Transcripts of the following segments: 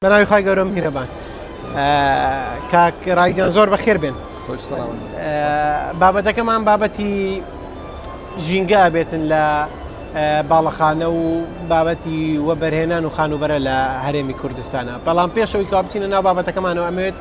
بەناوی خی گەورە میرەبان کاک ڕایگەن زۆر بەخێر بێن بابەتەکەمان بابەتی ژینگە بێتن لە باڵەخانە و بابەتی وەبەرهێنان و خانوبەرە لە هەرێمی کوردستانە بەڵام پێشەوەی کاپچینە ناو بابەتەکەمانەوە ئەمێت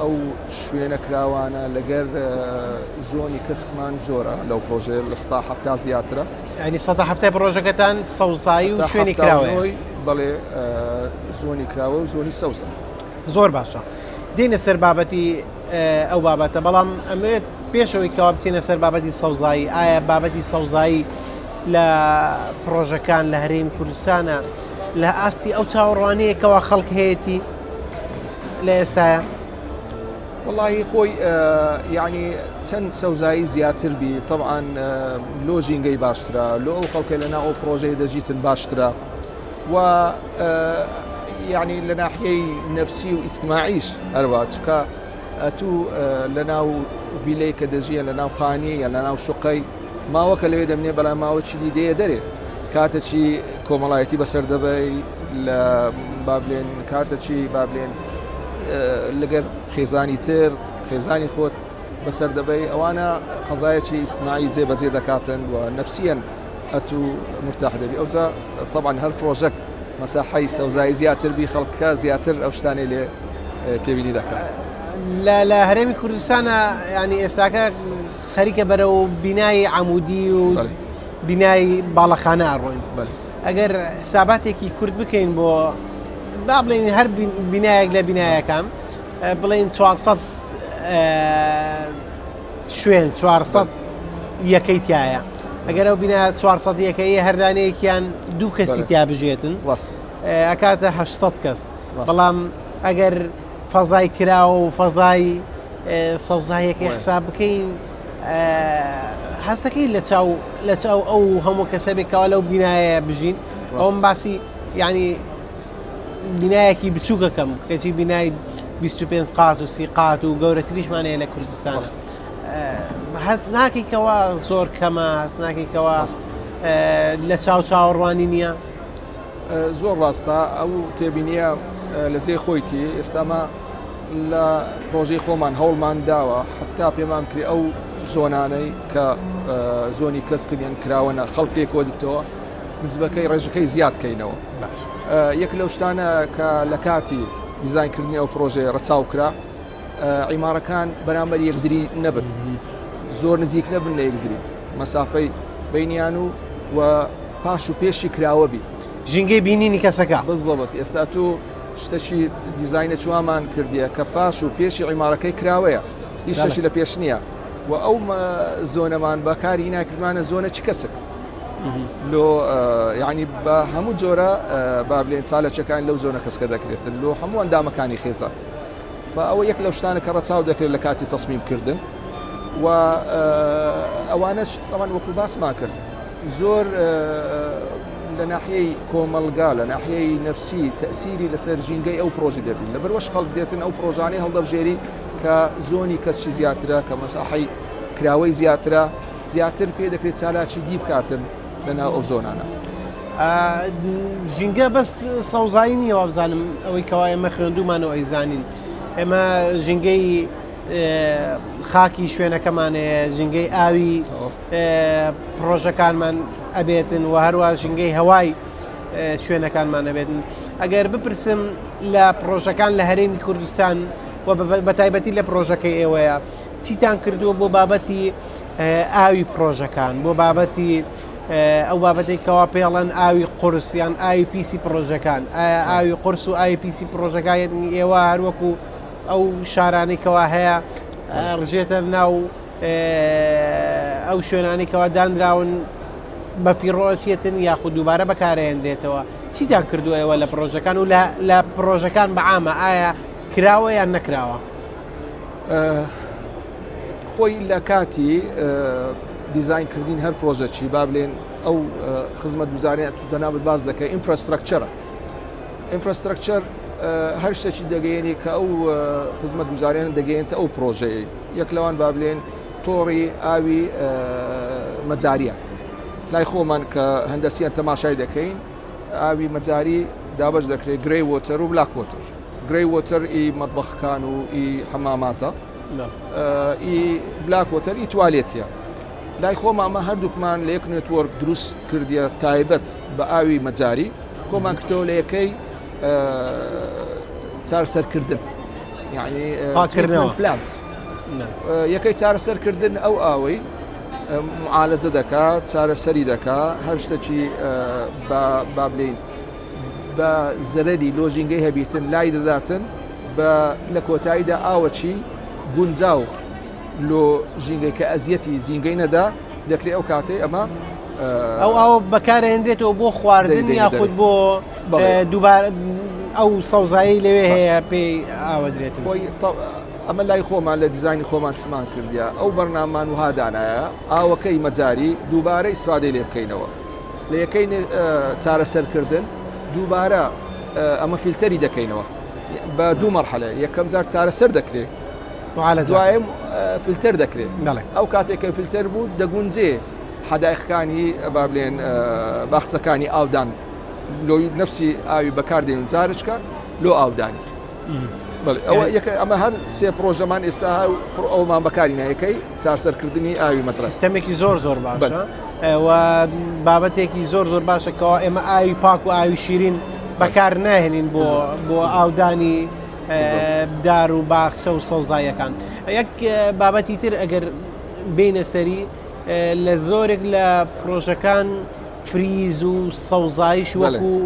ئەو شوێنە کراوانە لەگەر زۆنی کەسکمان زۆرە لەو پرۆژێ لە ستا هەفتا زیاترە ینی سە هەفتای پرۆژەکەتان سەوزایی و شوێنی کراوەی بەڵێ زۆنی کراوە و زۆنی سەوزە زۆر باشە دێنە سەر بابەتی ئەو بابەتە بەڵام ئەمێت پێشەوەی کەوا بچینە سەر بابەتی سەوزایی ئایا بابەتی سەوزایی لە پرۆژەکان لە هەرێم کوردستانە لە ئاستی ئەو چاوەڕوانەیەکەوە خەڵک هەیەی لە ئێستاە. وەڵاهی خۆی یعنی چەند سەوزایی زیاتر بی طبعاان لۆ ژینگەی باشترە لۆ ئەو خەڵکە لەنا ئەو پرۆژەی دەژیتن باشترە و یعنی لە ناحیەی نەفسی و ئیسماعیش هەروە چکە ئەتوو لە ناو ڤیلەی کە دەژیە لە ناو خانیە لە ناو شقەی ماوە کە لەوێ دەمنێ بەلام ماوە چلی دێیە دەرێ کاتە چی کۆمەڵایەتی بەسەر دەبەی لە بابلێن کاتە چی بابلێن لەگەر خێزانی تر خێزانی خۆت بەسەر دەبەی ئەوانە قەزایەکی ئیسمایی جێ بەجێ دەکاتن و نفسیەن ئەتو مرتاح دەبی ئەوجا طبعا هەر پرۆژەک مەساحی سەوزایی زیاتر بی خەڵکە زیاتر ئەو شتانەی لێ تێبینی دەکات لە لە هەرێمی کوردستانە ینی ئێستاکە خەریکە بەرەو بینایی عمودی و بینایی باڵەخانە ئەڕۆین ئەگەر ساباتێکی کورد بکەین بۆ با بڵێن هەر بینایەک لە بینایەکان بڵێن 400 شوێن 400 یەکەی تایە ئەگەر ئەو بینە 400 یەکەیە هەردانەیەکیان دوو کەسی تیا بژێتن ڕاست ئەکاتە 600 کەس بەڵام ئەگەر فەزای کراوە و فەزای سەوزاییەکەی حساب بکەین هەستەکەی لە چاو لە چاو ئەو هەموو کەسەبێکەوە لەو بینایە بژین ئەوم باسی ینی بینایەکی بچووکەکەم کەچی بینای 25 قات و سی قات و گەورەتریشمانەیە لە کوردستان هەست ناکەیتەوە زۆر کەمە هەست ناکەیتەوە لە چاو چاوەڕوانی نییە زۆر ڕاستە ئەو تێبینیە لە جێ خۆیتی ئێستامە لە پرۆژەی خۆمان هەوڵمان داوە حتا پێمان کرێ ئەو زۆنانەی کە زۆنی کەسکردیان کراوەە خەڵک لێ کۆدکتەوە نزبەکەی ڕێژەکەی زیادکەینەوە یەک لەو شتانە کە لە کاتی دیزانکردنی ئەو پرۆژەیە ڕەچاو کرا عیمارەکان بەرامبەر یەکدری نەبن زۆر نزیک نەبن لە یەکدری مەسافەی بینیان و و پاش و پێشی کراوە بی ژینگەی بینینی کەسەکە بزڵەت ئێستا تو شتەشی دیزینە چوامان کردیە کە پاش و پێشی عیمارەکەی کراوەیە هیچ شەشی لە پێش نییە و ئەو زۆنەمان بەکاری ناکردمانە زۆنە چ کەسک لۆ یعنی بە هەموو جۆرە بابلێن چالەچەکان لەو زۆنە کەسکە دەکرێتن لۆ هەموو ئەندامەکانی خێزان فە ئەوە یەک لەو شتانە کە ڕەچاو دەکرێت لە کاتی تەسمیم کردن و ئەوانەش ئەوان وەکو باسمان کرد زۆر لە ناحیەی کۆمەلگا لە ناحیەی نەفسی تەسیری لەسەر ژینگەی ئەو پرۆژی دەبین لە بەروەش خەڵک دێتن ئەو پرۆژانەی هەڵدەبژێری کە زۆنی کەسچی زیاترە کە مەساحی کراوەی زیاترە زیاتر پێ دەکرێت چالاکی دی بکاتن لەناو ئەو زۆنانە. ژینگە بەس سەوزایی نییە وابزانم ئەوەی کەوا ئێمە خوێندومان و ئەیزانین ئێمە ژینگەی خاکی شوێنەکەمانەیە ژینگەی ئاوی پرۆژەکانمان ئەبێتن و هەروە ژینگەی هەوای شوێنەکانمان ئەبێتن ئەگەر بپرسم لە پرۆژەکان لە هەرێمی کوردستان بە تایبەتی لە پرۆژەکەی ئێوەیە چیتان کردووە بۆ بابەتی ئاوی پڕۆژەکان بۆ بابەتی ئەو بابەتی کەوا پێڵەن ئاوی قورسیان ئاوی پیسی پڕۆژەکان ئایا ئاوی قرس و ئاوی پیسی پڕۆژەکانی ئێوە هەروەکو ئەو شارانی کەوا هەیە ڕژێتە ناو ئەو شوێنانی کەوا دانراون بە پیڕۆچێتن یاخود دووبارە بەکارێنرێتەوە چیتان کردو ئێوە لە پرۆژەکان و لە پرۆژەکان بەعامە ئایا کراوە یان نەکراوە خۆی لە کاتی دیزین کردین هەر پرۆژەچی با بلێن ئەو خزمەت گوزارە تو جەنابەت باز دەکە ئینفراستراکچەرە ئینفراستراکچەر هەر شتێکی دەگەیەنی کە ئەو خزمەت گوزاریان دەگەێنێتە ئەو پرۆژەیە یەک لەوان با بلێن تۆڕی ئاوی مەجاریە لای خۆمان کە هەندەسیان تەماشای دەکەین ئاوی مەجاری دابش دەکرێت گرێ وۆتەر و بلاکۆتر گرەی وۆتەر ئی مەتبەخکان و ئی حەماماتە ئی بلاک وۆتەر ئی توالێتیە لای خۆما مە هەردووکمان لە یەک نێتوۆرک دروست کردیە تایبەت بە ئاوی مەجاری کۆمان کردەوە لە یەکەی چارسەرکردن یعنی پاکردنەوە پلانت یەکەی چارەسەرکردن ئەو ئاوەی معالەجە دەکات چارەسەری دەکات هەر شتەکی بابلین بە زەرەری لۆ ژینگەی هەبیتن لای دەداتن بە لە کۆتاییدا ئاوەچی گونجاو لۆ ژینگەی کە ئەزیەتی زینگەی نەدا دەکرێ ئەو کاتەی ئەمە ئەو ئەوە بەکارێنرێتەوە بۆ خواردن یاخود بۆ دووبار ئەو سەوزایی لەوێ هەیە پێی ئاوەدرێت خۆی ئەمە لای خۆمان لە دیزانی خۆمان چمان کردیا ئەو بەرنامان وهادانایە ئاوەکەی مەجاری دووبارەی سوادەی لێ بکەینەوە لە یەکەی چارەسەرکردن دووبارە ئەمە فیلتەری دەکەینەوە بە دوو مەرحەلە یەکەم جار چارەسەر دەکرێت دوایم فیلتەر دەکرێت ئەو کاتێکە فیلتەر بوو دەگونجێ حداخەکانی بابلێن باخچەکانی ئاودان لۆی نفسی ئاوی بەکاردێن جارچکە لۆ ئاودانی ئەوە یەکە ئەمە هەر سێ پرۆژەمان ئێستا هاو ئەومان بەکاری نایەکەی چارسەرکردنی ئاوی مەترە سیستەمێکی زۆر زۆر باشە بابەتێکی زۆر زۆر باشەکەەوە ئێمە ئاوی پاک و ئاوی شیرین بەکار ناهێنین بۆ بۆ ئاودانی دار و باخچە و سەوزایەکان یەک بابەتی تر ئەگەر بینە سەری لە زۆرێک لە پرۆژەکان فریز و سەوزایش وەکو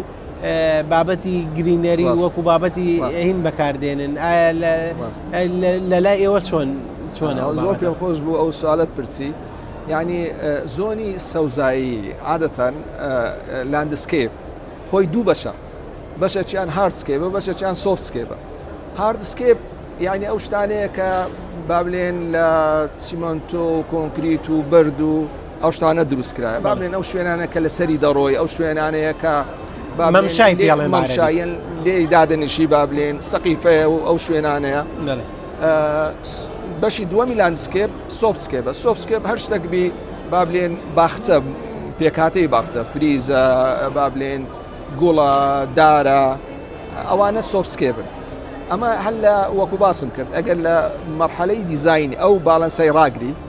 بابەتی گرینەری وەکو بابەتی هین بەکاردێنن ئایا لە لای ئێوە چۆن چۆن زۆر پێ خۆش بوو ئەو سوالت پرسی یعنی زۆنی سەوزایی عادەتەن لاندسکیپ خۆی دوو بەشە بەشەچیان هاردسکێبە بەشەچیان سۆفسکێبە هاردسکێپ یعنی ئەو شتانەیە کە بابلێن لە سیمنتۆ و کۆنکریت و بەرد و ئەو شتانە دروست کرایە با بڵێن ئەو شوێنانە کە لەسەری دەڕۆی ئەو شوێنانەیە کە مەمشای پێڵێ مەمشایەن لێ دادنیشی با بلێن سەقیفەیە و ئەو شوێنانەیە بەشی دووەمی لاندسکێپ سۆفسکێ بە سۆفسکێپ هەر شتێک بی با بلێن باخچە پێکاتەی باخچە فریزە با بلێن گوڵە دارە ئەوانە سۆفسکێ بن ئەمە هەل لە وەکو باسم کرد ئەگەر لە مەرحەلەی دیزین ئەو باڵەنسای ڕاگری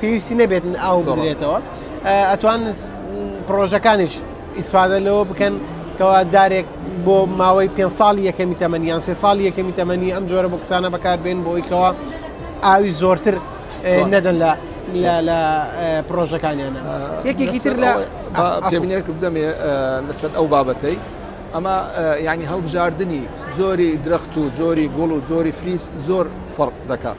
پێویستی نەبێت ئاو بدرێتەوە ئەتوان پرۆژەکانیش ئیسفادە لەوە بکەن کەوا دارێک بۆ ماوەی پێ ساڵ یەکەمی تەمەنی یان سێ ساڵ یەکەمی تەمەنی ئەم جۆرە بۆ کسانە بەکاربێن بۆی کەەوە ئاوی زۆرتر نەدەن لە لە پرۆژەکانیانە یەکێکی تر لە تێبینێک بدەمێ لەسەر ئەو بابەتەی ئەمە ینی هەڵبژاردننی زۆری درەخت و زۆری گوڵ و زۆری فریز زۆر فەرق دەکات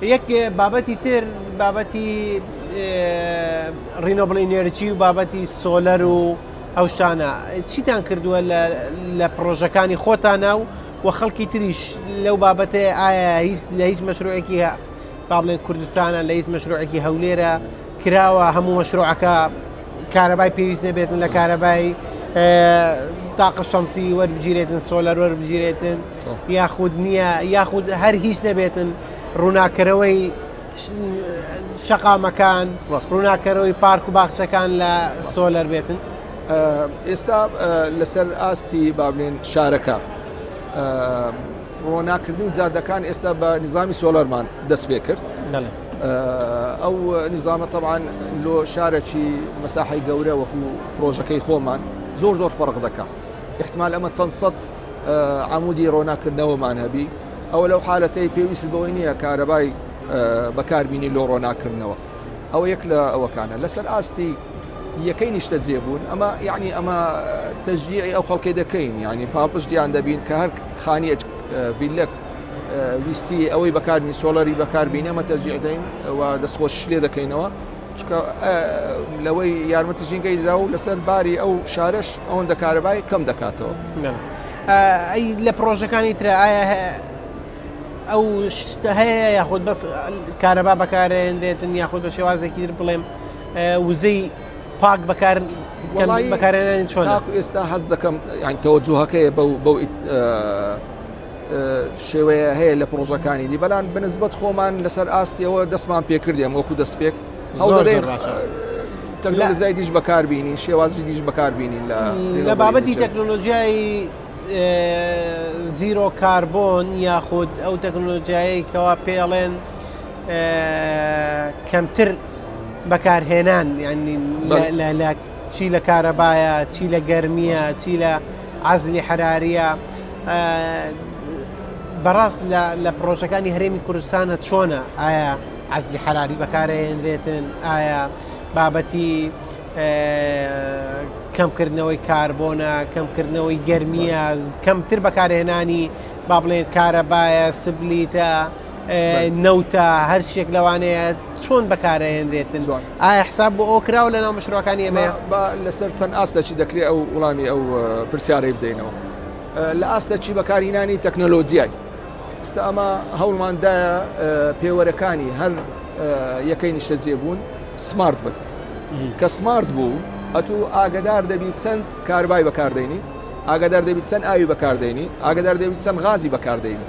یەک بابەتی تر بابەتی ڕینۆبڵی نێرچی و بابەتی سۆلەر و ئەو شتانە چیتان کردووە لە پرۆژەکانی خۆتانە و و خەڵکی تریش لەو بابەتێ ئایا هیچ لە هیچ مەشروعێکی با بڵێن کوردستانە لە هیچ مەشروعێکی هەولێرە کراوە هەموو مەشروعەکە کارەبای پێویست نەبێتن لە کارەبای تاقە شەمسی وەربگیرێتن سۆلەر وەربگیرێتن یاخود نییە یاخود هەر هیچ نەبێتن ڕووناکەرەوەی شەقامەکان ڕووناکەرەوەی پارک و باخچەکان لە سۆلەر بێتن ئێستا لەسەر ئاستی بابلێن شارەکە ڕۆناکردنی جادەکان ئێستا بە نظامی سۆلەرمان دەست پێ کرد ئەو نظامە تەوان لۆ شارەکی مەساحی گەورە وەکو پرۆژەکەی خۆمان زۆر زۆر فەرق دەکات احتمال ئەمە چەند سەد عەمودی ڕۆناک کردنەوەمان هەبی ئەوە لەو حالەتەی پێویست بەوەی نییە کارەبای بەکاربینی لۆ ڕۆناکردنەوە ئەوە یەک لە ئەوەکانە لەسەر ئاستی یەکەی نیشتە جێبوون ئەمە یعنی ئەمە تەژیعی ئەو خەڵکی دەکەین ینی پاڵپشتیان دەبین کە هەر خانیەت ڤیلەک ویستی ئەوەی بەکارنی سۆڵەری بەکاربینەمە تەژیعدەین و دەستخۆش لێ دەکەینەوە چونکە لەوەی یارمەتی ژینگەی دەدا و لەسەر باری ئەو شارەش ئەوەندە کارەبای کەم دەکاتەوە. لە پڕۆژەکانی ترە ئەو شتە هەیە یاخود بەس کارەبا بەکارێنرێتن یاخود بە شێوازێکی تر بڵێم وزەی پاک بەکار بەکارێنانی چۆن ئێستا هەز دەکەم یان تەوەجوهەکەی بەو بەو شێوەیە هەیە لە پرۆژەکانی دی بەلان بنسبت خۆمان لەسەر ئاستیەوە دەستمان پێکردێن وەکو دەست پێک هەڵدەدەین تەکنەلزای دیش بەکاربیینی شێوازی دیش بەکاربیینین لە بابەتی تەکنۆلۆژیایی زیرۆ کاربۆن یاخود ئەو تەکنۆلۆژیایی کەوا پێڵێن کەمتر بەکارهێنان یعنی لە چی لە کارەبایە، چی لە گەرمییە، چی لە عەزلی حەرارییە، بەڕاست لە پڕۆژەکانی هەرێمی کوردستانە چۆنە ئایا عەزلی حەراری بەکارێنرێتن ئایا بابەتی کەمکردنەوەی کاربۆنە کەمکردنەوەی گەرمیاز کەمتر بەکارهێنانی با بڵێن کارەبایە سبلیتە. نەوتە هەرچێک لەوانەیە چۆن بەکارەهێنرێتن ئایا حساب بۆ ئەو کراوە لە ناو مشرۆەکانی ئەمە لەسەر چەند ئاستەکی دەکرێت ئەو وڵامی ئەو پرسیارەی بدەینەوە لە ئاستەکی بەکارهینانی تەکنەلۆجیای ئستا ئەمە هەوڵماندایە پێوەرەکانی هەر یەکەی نیشتە جێبوون سمارت بن کە سمارت بوو ئەتو ئاگدار دەبی چەند کاربای بەکاردێنی ئاگدار دەبی چەند ئاوی بەکاردێنی ئاگدار دەبی چەند غازی بەکاردێنی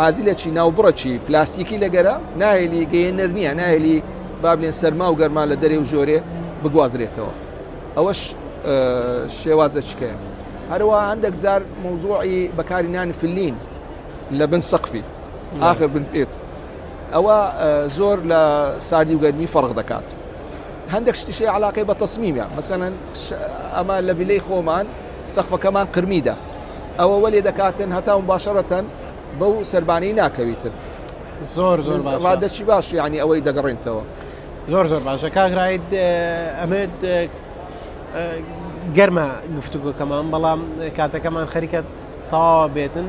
ئازیلەکی ناوبڕەکی پلاستیکی لە گەرە، ناهێلی گەیێنەر نییە، ناهێلی با بلێن سەرما و گەرما لە دەرێ و ژۆرێ بگوازرێتەوە. ئەوەش شێوازەکیکەیە. هەرەوەها هەندێک جار مەوزوعی بەکاری نانی فلین لە بن سەقفی ئاخر بن پێت ئەوە زۆر لە ساردی و گەرمی فەرق دەکات هەندێک شتیشی علاقەی بە تەسمیمە مەسەەن ئەمە لە ویلەی خۆمان سەخفەکەمان قرمیدا ئەوە وەلێ دەکاتن هەتا مباشەرەتەن بەو سەربانەی ناکەویتن زۆر زۆر باش ڕادەچی باش یعنی ئەوەی دەگەڕێنتەوە زۆر زۆر باشە کاگرایت ئەمێت گەرمە گفتوگۆکەمان بەڵام کاتەکەمان خەریکە تەواوە بێتن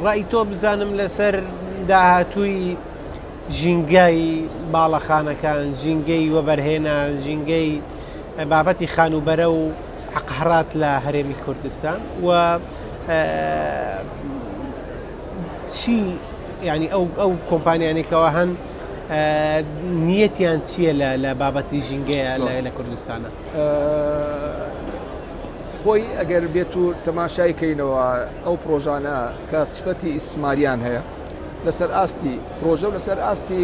ڕای تۆ بزانم لەسەر داهاتووی ژینگای باڵەخانەکان ژینگەی وەبەرهێنان ژینگەی بابەتی خانوبەرە و حەقهڕات لە هەرێمی کوردستان و چی ینی ئەو ئەو کۆمپانیانێکەوە هەن نیەتیان چییە لە لە بابەتی ژینگەیە لە کوردستانە خۆی ئەگەر بێت و تەماشای کەینەوە ئەو پرۆژانە کە سفەتی ئیسماریان هەیە لەسەر ئاستی پرۆژە و لەسەر ئاستی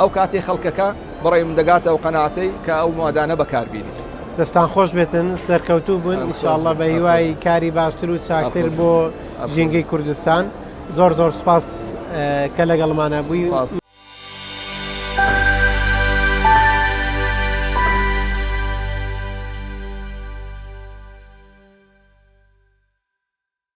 ئەو کاتەی خەڵکەکە بەڕای من دەگاتە ئەو قەناعەتەی کە ئەو موادانە بەکار بینیت. دەستان خۆش بێتن سەرکەوتوو بن ان شاء اللە بە هیوای کاری باشتر و چاکتر بۆ ژینگەی کوردستان زۆر زۆر سپاس کە لەگەڵمانە بووی.